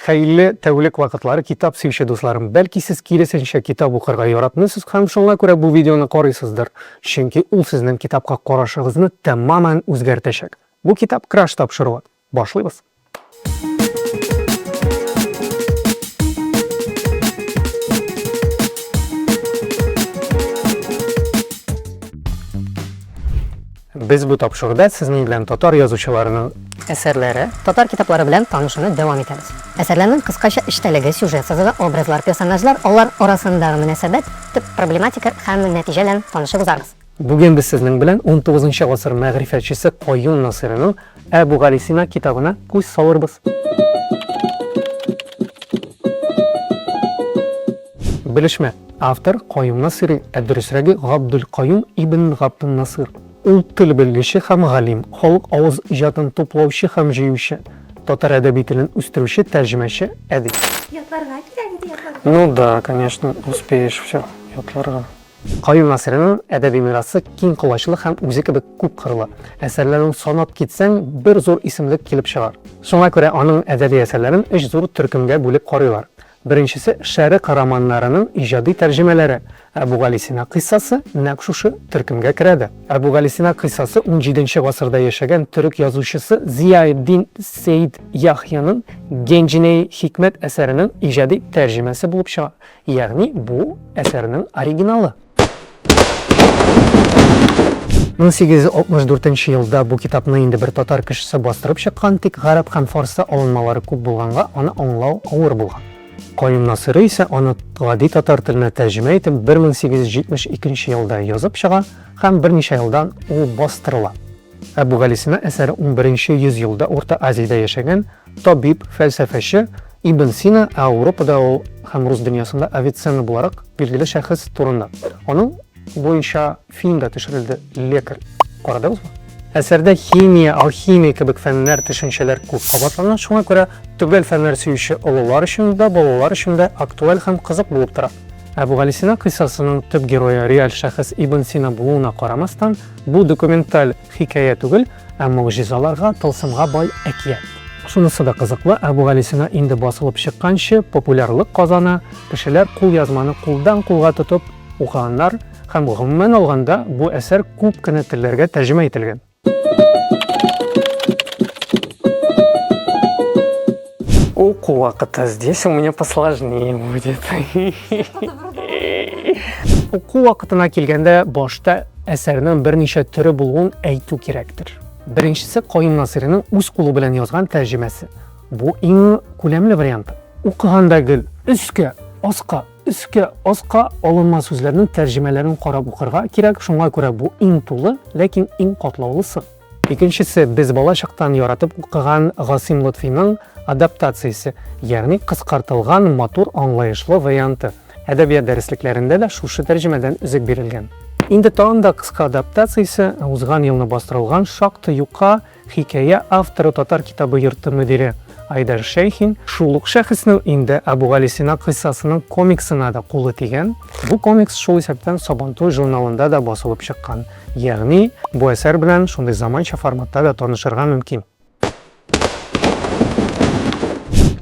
Хәйле тәүлек вакытлары китап сөюче дусларым, бәлки сез киресенчә китап укырга яратмыйсыз һәм шуңа күрә бу видеоны карыйсыздыр, чөнки ул сезнең китапка карашыгызны тәмамән үзгәртәчәк. Бу китап Краш тапшыруы. Башлыйбыз! Без бу тапшыруда сезнең белән татар язучыларының әсәрләре, татар китаплары белән танышуны дәвам итәбез. Әсәрләрнең кыскача эчтәлеге, сюжет сызыгы, образлар, персонажлар, алар арасындагы мөнәсәбәт, төп проблематика һәм нәтиҗә белән танышып узарбыз. Бүген без сезнең белән унтугызынчы гасыр мәгърифәтчесе Каюм Насыйриның Әбүгалисина китабына күз салырбыз. Белешмә. Автор, Каюм Насыйри, ә дөресрәге Габдулкаюм ибн Габдуннасыйр. Ул тел белгече һәм галим, халык авыз иҗатын туплаучы һәм җыючы, татар әдәби телен үстерүче, тәрҗемәче, әдип. Ятларга кирәк иде, ятларга. Ну да, конечно, успеешь всё ятларга. Каюм Насыйриның әдәби мирасы киң колачлы һәм үзе кебек күп кырлы. Әсәрләрен санап китсәң, бер зур исемлек килеп чыгар. Шуңа күрә аның әдәби әсәрләрен өч зур төркемгә бүлеп карыйлар. Беренчесе, шәрык романнарының иҗади тәрҗемәләре. Әбүгалисина кыйссасы нәкъ шушы төркемгә керә дә. Әбүгалисина кыйссасы унҗиденче гасырда яшәгән төрек язучысы Зияэддин Сеид Яхъяның Генҗинеи хикмәт әсәренең иҗади тәрҗемәсе булып чыга. Ягъни бу әсәрнең оригиналы. 1864 елда бу китапны инде бер татар кешесе бастырып чыккан, тик гарәп һәм фарсы алынмалары күп булганга, аны аңлау авыр булган. Каюм Насыйри исә аны гади татар теленә тәрҗемә итеп 1872 елда язып чыга һәм берничә елдан ул бастырыла. Әбүгалисина әсәре 11 йөз елда Урта Азиядә яшәгән Табиб, фәлсәфәче Ибн Сина, ә Ауропада ул һәм рус дөньясында Авиценна буларак билгеле шәхес турында. Аның буенча фильм да төшерелде, Лекарь. Карадыгызмы? Әсәрдә химия, алхимия кебек фәннәр, төшенчәләр күп кабатлана, шуңа күрә төгәл фәннәр сөюче олылар өчен дә, балалар өчен дә актуаль һәм кызык булып тора. Әбүгалисина кыйссасының төп герое реаль шәхес Ибн Сина булуына карамастан, бу документаль Хикәя түгел, ә могҗизаларга, тылсымга бай әкият. Шунысы да кызыклы, Әбүгалисина инде басылып чыкканчы популярлык казана, кешеләр кулъязманы кулдан-кулга тотып укыганнар һәм, гомумән алганда, бу әсәр күп кенә телләргә тәрҗемә ителгән. О, кулак-то здесь у меня посложнее будет. Уку вакытына килгәндә башта әсәрнең берничә төре булуын әйтү кирәктер. Беренчесе Каим Насиринең үз кулы белән язган тәрҗемәсе. Бу иң күләмле вариант. Укыганда гел өскә, аска, өскә, аска алынма сүзләрнең тәрҗемәләрен карап укырга кирәк. Шуңа күрә бу иң тулы, ләкин иң катлаулысы. Икенчесе, без бала чактан яратып укыган Гасыйм Лотфиның адаптациясе, ягъни кыскартылган, матур, аңлаешлы варианты. Әдәбият дәреслекләрендә дә шушы тәрҗемәдән өзек бирелгән. Инде тагын да кыска адаптациясе, узган елны бастырылган шактый юка хикәя авторы Татар китабы йорты мөдире Айдар Шәйхин. Шул ук шәхеснең инде Әбүгалисина кыйссасының комиксына да кулы тигән. Бу комикс шул исәптән Сабантуй журналында да басылып чыккан. Ягъни, бу әсәр белән шундый заманча форматта да танышырга мөмкин.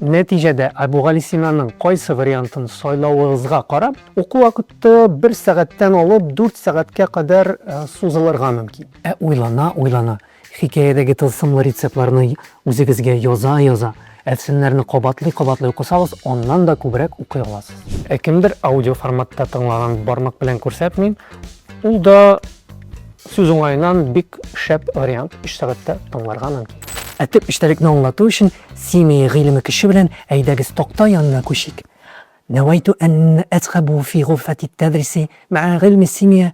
Нәтиҗәдә, Әбүгалисинаның кайсы вариантын сайлавыгызга карап, уку вакыты бер сәгатьтән алып дүрт сәгатькә кадәр сузылырга мөмкин. Ә уйлана-уйлана, Хикәядәге тылсымлы рецептларны үзегезгә яза-яза, әфсәнәләрне кабатлый-кабатлый укысагыз, аннан да күбрәк укый аласыз. Ә кемдер аудиоформатта тыңлаган бармак белән күрсәтмим, ул да сүз уңаеннан бик шәп вариант, өч сәгатьтә тыңларга мөмкин. Ә төп эчтәлекне аңлату өчен семия гыйлеме көче белән әйдәгез такта янына күчик. Нәвәйтү ән әцхәбү фи гурфәти тәдриси мәә гыйлми семия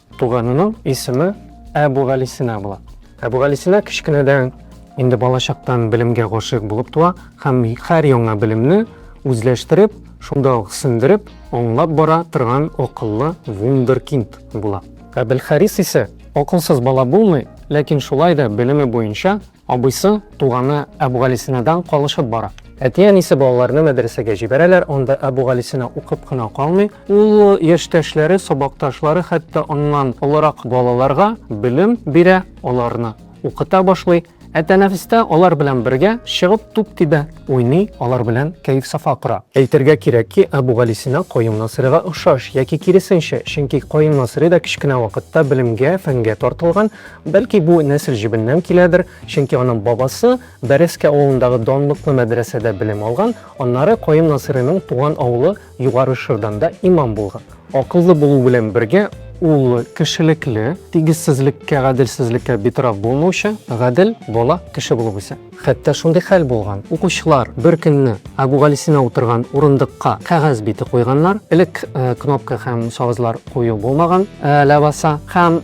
Туганының исеме Әбүгалисина була. Әбүгалисина кечкенәдән инде балачактан белемгә гашыйк булып туа һәм һәр яңа белемне үзләштереп, шунда ук сеңдереп, аңлап бара торган акыллы вундеркинд була. Әбелхарис исә акылсыз бала булмый, ләкин шулай да белеме буенча Абыйсы, туганы Әбүгалисинадан калышып бара. Әти-әнисе балаларны мәдрәсәгә җибәрәләр, анда Әбүгалисина укып кына калмый, ул яшьтәшләре, сабакташлары, хәтта аннан олырак балаларга белем бирә, аларны укыта башлый. Ә тәнәфестә алар белән бергә чыгып туп тибә, уйный, алар белән кәеф-сафа кора. Әйтергә кирәк ки, Әбүгалисина Каюм Насыйрига охшаш, яки киресенчә, чөнки Каюм Насыйри да кечкенә вакытта белемгә, фәнгә тартылган, Бәлки бу нәсел җебеннән киләдер, чөнки аның бабасы Бәрәскә авылындагы данлыклы мәдрәсәдә белем алган, аннары Каюм Насыйриның туган авылы Югары Шырданда имам булган. Акыллы булу белән бергә, ул кешелекле, тигезсезлеккә, гаделсезлеккә битараф булмаучы, гадел бала, кеше булып үсә. Хәтта шундый хәл булган, укучылар беркөнне Әбүгалисина утырган урындыкка кәгазь бите куйганнар, элек кнопка һәм савызлар кую булмаган, ләбаса, һәм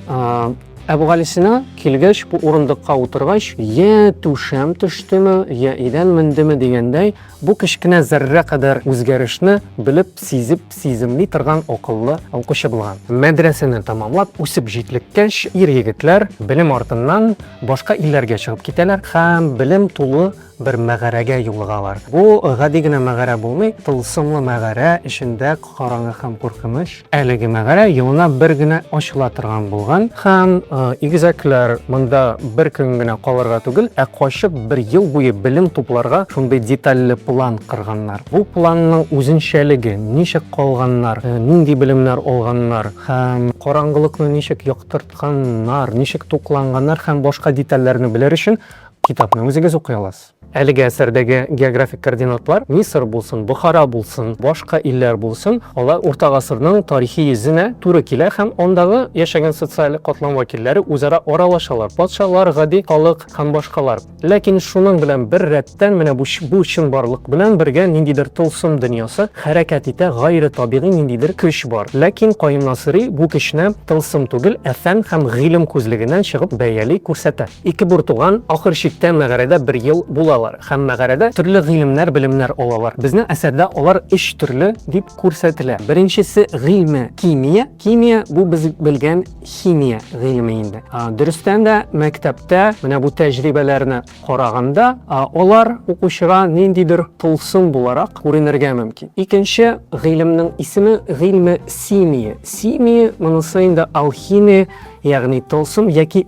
Әбүгалисина килгәч, бу урындыкка утыргач, йә түшәм төштеме, йә идән мендеме дигәндәй, Бу кечкенә зәррә кадәр үзгәрешне белеп, сизеп, сиземли торган акыллы укучы булган. Мәдрәсәне тәмамлап, үсеп җитлеккәч, ир-егетләр белем артыннан башка илләргә чыгып китәләр һәм белем тулы бер мәгарәгә юлыгалар. Бу гади генә мәгарә булмый, тылсымлы мәгарә эчендә караңгы һәм куркыныч. Әлеге мәгарә елына бер генә ачыла торган булган һәм игезәкләр монда бер көн генә калырга түгел, ә качып бер ел буе белем тупларга шундый детальле план кырганнар. Бу планның үзенчәлеге, ничек калганнар, нинди белемнәр алганнар һәм караңгылыкны ничек яктыртканнар, ничек тукланганнар һәм башка детальләрне белер өчен китапны үзегез укый аласыз. Әлеге әсәрдәге географик координатлар, Мисыр булсын, Бохара булсын, башка илләр булсын, алар Урта гасырның тарихи йөзенә туры килә һәм андагы яшәгән социаль катлам вәкилләре үзара аралашалар, патшалар, гади халык һәм башкалар. Ләкин шуның белән бер рәттән менә бу бу чынбарлык белән бергә ниндидер тылсым дөньясы хәрәкәт итә, гайре табигый ниндидер көч бар. Ләкин Каюм Насыйри бу көчне тылсым түгел, ә фән һәм гыйлем күзлегеннән чыгып бәяли, күрсәтә. Ике бертуган ахыр чиктә мәгарәдә бер ел булалар һәм мәгарәдә төрле гыйлемнәр, белемнәр алалар. Безнең әсәрдә алар өч төрле дип күрсәтелә. Беренчесе гыйльме кимия. Кимия бу без белгән химия гыйлеме инде. Дөрестән дә мәктәптә менә бу тәҗрибәләрне караганда алар укучыга ниндидер тылсым буларак күренергә мөмкин. Икенче гыйлемнең исеме гыйльме симия. Симия монысы инде алхимия, ягъни тылсым яки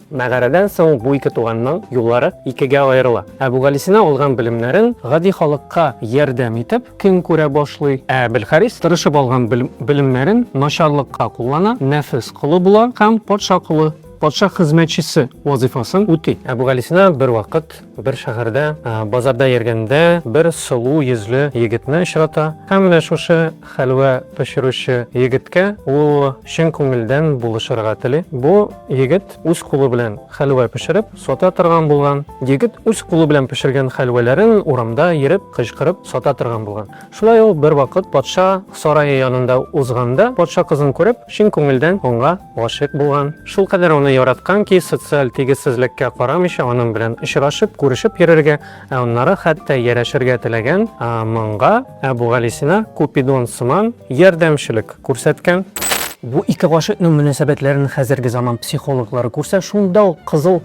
Мәгарәдән соң бу ике туганның юллары икегә аерыла. Әбүгалисина алган белемнәрен гади халыкка ярдәм итеп көн күрә башлый, ә Әбелхарис тырышып алган белемнәрен начарлыкка куллана, нәфес колы була һәм патша колы, патша хезмәтчесе вазыйфасын үти. Әбүгалисина бервакыт Бер шәһәрдә базарда йөргәндә бер сылу йөзле егетне очрата һәм менә шушы хәлвә пешерүче егеткә ул чын күңелдән булышырга тели. Бу егет үз кулы белән хәлвә пешереп сата торган булган. Егет үз кулы белән пешергән хәлвәләрен урамда йөреп кычкырып сата торган булган. Шулай ул бервакыт патша сарае янында узганда, патша кызын күреп, чын күңелдән аңа гашыйк булган. Шулкадәр аны яраткан ки, социаль тигезсезлеккә карамыйча, аның белән очрашып, күрешеп йөрергә, ә аннары хәтта ярәшергә теләгән. Моңга Әбүгалисина Купидон сыман ярдәмчелек күрсәткән. Бу ике гашыйкның мөнәсәбәтләрен хәзерге заман психологлары күрсә, шунда ук кызыл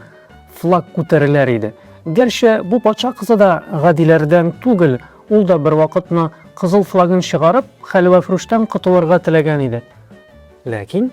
флаг күтәреләр иде. Гәрчә бу патша кызы да гадиләрдән түгел, Ул да бервакытны кызыл флагын чыгарып, хәлвәфрүштән котылырга теләгән иде. Ләкин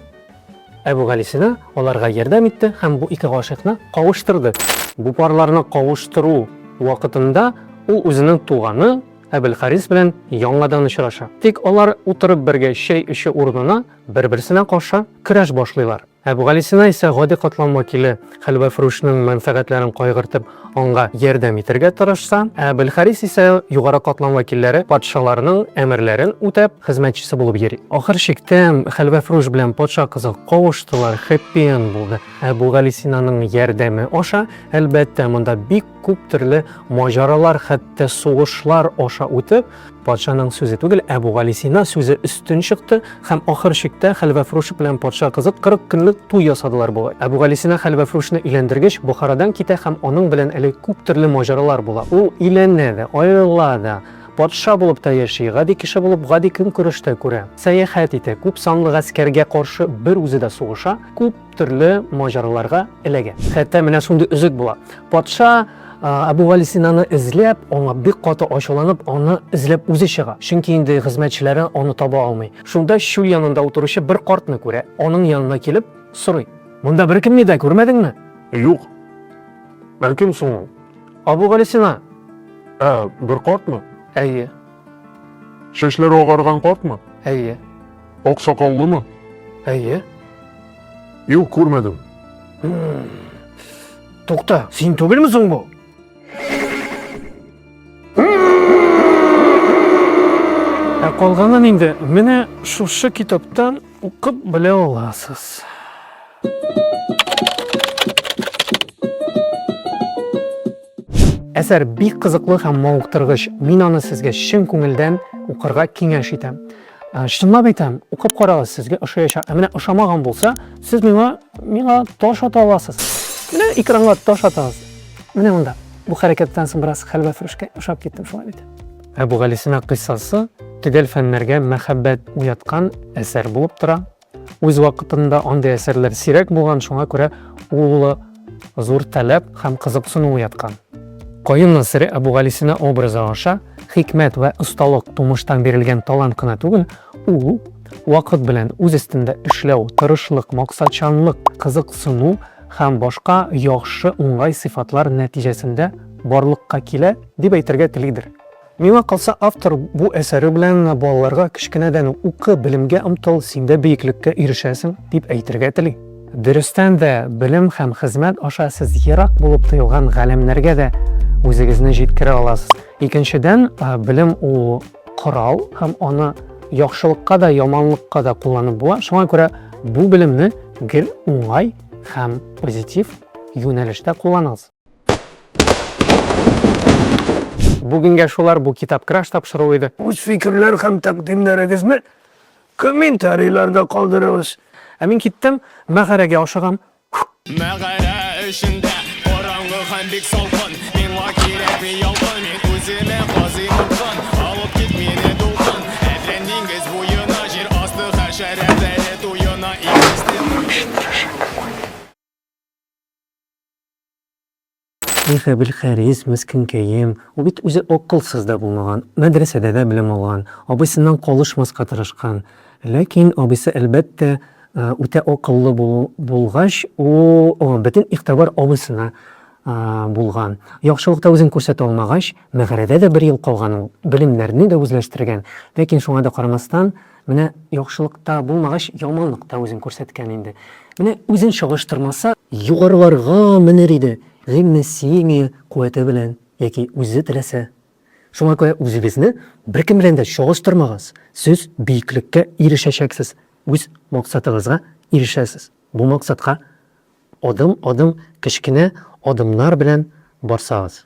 Әбүгалисина аларга ярдәм итте һәм бу ике гашыйкны кавыштырды. Бу парларны кавыштыру вакытында ул үзенең туганы Әбелхарис белән яңадан очраша. Тик алар утырып бергә чәй эчү урынына бер-берсенә каршы көрәш башлыйлар. Әбүгалисина исә гади катлам вәкиле хәлвәфрүшнең мәнфәгатьләрен кайгыртып, аңга ярдәм итәргә тырышса, Әбелхарис исә югары катлам вәкилләре патшаларның әмерләрен үтәп, хезмәтчесе булып йөри. Ахыр чиктә, хәлвәфрүш белән патша кызы кавыштылар, хэппи-энд булды. Әбүгалисинаның ярдәме аша, әлбәттә, монда бик Күп төрле маҗаралар, хәтта сугышлар аша үтеп, патшаның сүзе түгел, Әбүгалисина сүзе өстен чыкты һәм ахыр чиктә хәлвәфрүш белән патша кызы 40 көнлек туй ясадылар бугай. Әбүгалисина хәлвәфрүшне өйләндергеч, Бохарадан китә һәм аның белән әле күп төрле маҗаралар була. Ул өйләнә дә, аерыла да, патша булып та яши, гади кеше булып гади көнкүреш тә күрә, сәяхәт итә, күп санлы гаскәргә каршы бер үзе дә сугыша, күп Төрле маҗараларга эләгә. Хәтта менә шундый өзек була. Патша Әбүгалисинаны эзләп, аңа бик каты ачуланып, аны эзләп үзе чыга. Чөнки инде хезмәтчеләре аны таба алмый. Шунда чүл янында утыручы бер картны күрә. Аның янына килеп сорый. Монда беркемне дә күрмәдеңме? Юк. Бәлкем соң ул. Әбүгалисина. Ә, бер картмы? Әйе. Чәчләре агарган картмы? Әйе. Ак сакаллымы? Әйе. Юк, күрмәдем. Тукта, син түгелме соң бу? Ә калганын инде менә шушы китаптан укып белә аласыз. Әсәр бик кызыклы һәм мавыктыргыч. Мин аны сезгә чын күңелдән укырга киңәш итәм. Ә, чынлап әйтәм, укып карагыз, сезгә ошаячак. Ә менә ошамаган булса, сез миңа миңа таш ата аласыз. Менә экранга таш атагыз. Менә монда. Бу хәрәкәттән соң бераз хәлвә фрүшкә ошап киттем шулай бит. Әбүгалисина кыйссасы төгәл фәннәргә мәхәббәт уяткан әсәр булып тора. Үз вакытында андый әсәрләр сирәк булган, шуңа күрә ул зур таләп һәм кызыксыну уяткан. Каюм Насыйри Әбүгалисина образы аша хикмәт вә осталык тумыштан бирелгән талант кына түгел, ул вакыт белән үз өстендә эшләү, тырышлык, максатчанлык, кызыксыну һәм башка яхшы, уңай сыйфатлар нәтиҗәсендә барлыкка килә, дип әйтергә телидер. Миңа калса, автор бу әсәре белән балаларга кечкенәдән үк укы, белемгә омтыл, син дә биеклеккә ирешәсең, дип әйтергә тели. Дөрестән дә, белем һәм хезмәт аша сез ерак булып тоелган галәмнәргә дә үзегезне җиткерә аласыз. Икенчедән, белем ул корал һәм аны яхшылыкка да, яманлыкка да кулланып була. Шуңа күрә бу белемне гел уңай һәм позитив юнәлештә кулланыгыз. Бүгенгә шулар бу китап краш тапшыру иде. Үз фикерләр һәм тәкъдимнәрегезне комментарийларда калдырыгыз. Ә мин киттем, мәгарәгә ашыгам. Мәгарә эчендә караңгы һәм бик салкын Миңа кирәкми ялкын, мин үземә казыйм упкын Алып кит мине дулкын, әрлән диңгез буена Җир асты хәшәрәтләре туена Иң Эх, Әбелхәрис, мескенкәем, ул бит үзе акылсыз да булмаган, мәдрәсәдә дә белем алган, абыйсыннан калышмаска тырышкан. Ләкин абыйсы, әлбәттә, үтә акыллы булгач, ул бөтен игътибар абыйсына булган. Яхшылыкта үзен күрсәтә алмагач, мәгарәдә дә бер ел калган ул, белемнәрне дә үзләштергән. Ләкин шуңа да карамастан, Менә яхшылык та булмагач, яманлык та үзен күрсәткән инде. Менә үзен чагыштырмаса. Югарыларга менер иде, гыйльме симия куәте белән яки үзе теләсә. Шуңа күрә үзегезне беркем белән дә чагыштырмагыз, сез биеклеккә ирешәчәксез, үз максатыгызга ирешәсез. Бу максатка адым-адым, кечкенә адымнар белән барсагыз.